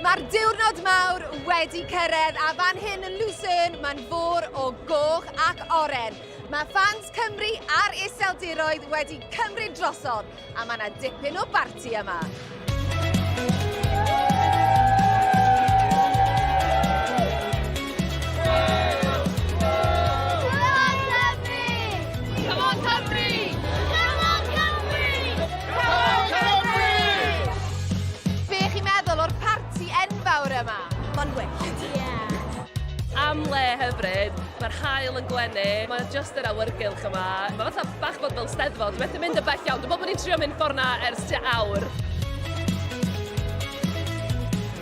Mae'r diwrnod mawr wedi cyrraedd a fan hyn yn Lucerne mae'n fôr o goch ac oren. Mae ffans Cymru a'r iseldiroedd wedi cymryd drosodd a mae yna dipyn o barti yma. cael yn gwenu. Mae just yr awyrgylch yma. Mae fatha bach bod fel steddfod. Methu mynd y bell iawn. Dwi'n bod bod ni'n trio mynd ffordd na ers tua awr.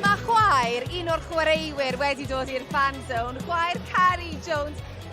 Mae chwaer, un o'r chwaraewyr wedi dod i'r fan zone, chwaer Cari Jones.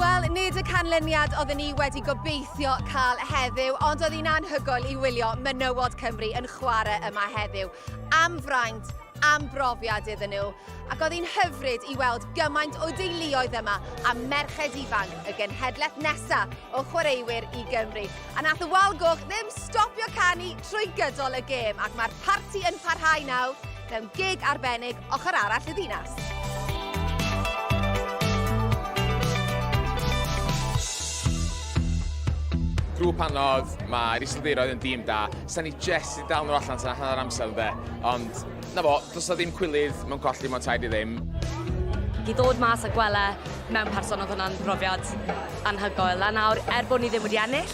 Wel, nid y canlyniad oedden ni wedi gobeithio cael heddiw, ond oedd hi'n anhygoel i wylio menywod Cymru yn chwarae yma heddiw. Am fraint, am brofiad iddyn nhw, ac oedd hi'n hyfryd i weld gymaint o deuluoedd yma a merched ifanc y genhedlaeth nesaf o chwaraewyr i Gymru. A nath y wal goch ddim stopio canu trwy gydol y gêm ac mae'r parti yn parhau nawr mewn gig arbennig ochr arall y ddinas. grŵp anodd, mae'r Iseldiroedd yn dîm da, sa'n ni jest i dal nhw allan tan hanner amser ynde, ond 'Na fo, does 'na ddim cwilydd mewn colli mewn tair i ddim. I ddod mas a gwella mewn person oedd hwnna'n brofiad anhygoel. A nawr, er bod ni ddim wedi ennill,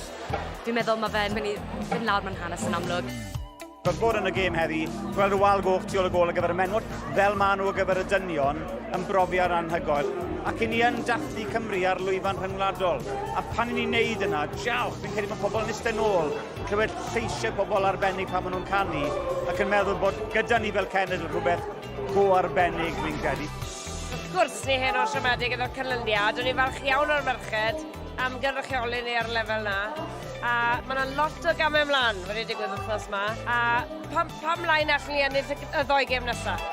dwi'n meddwl mae fe'n mynd i fynd lawr mewn hanes yn amlwg. Does bod yn y gêm heddi, gweld y wal goch tu ôl y gol ar gyfer y menwod, fel maen nhw ar gyfer y dynion, yn brofiad anhygoel. Ac i ni yn dathlu Cymru ar lwyfan rhyngwladol. A pan i ni'n neud yna, diolch, fi'n credu bod pobl yn eistedd nôl clywed lleisiau pobl arbennig pan maen nhw'n canu ac yn meddwl bod gyda ni fel cenedl rhywbeth go arbennig, fi'n credu. Wrth gwrs, ni hen o'r siomedig yn o'r canlyniad. O'n i'n falch iawn o'r merched am gynrychioli ni ar y lefel na. A mae yna lot o gamau ymlaen wedi digwydd wythnos yma. A pam, pam mlaen allan ni ennill y, y ddoi gêm nesaf?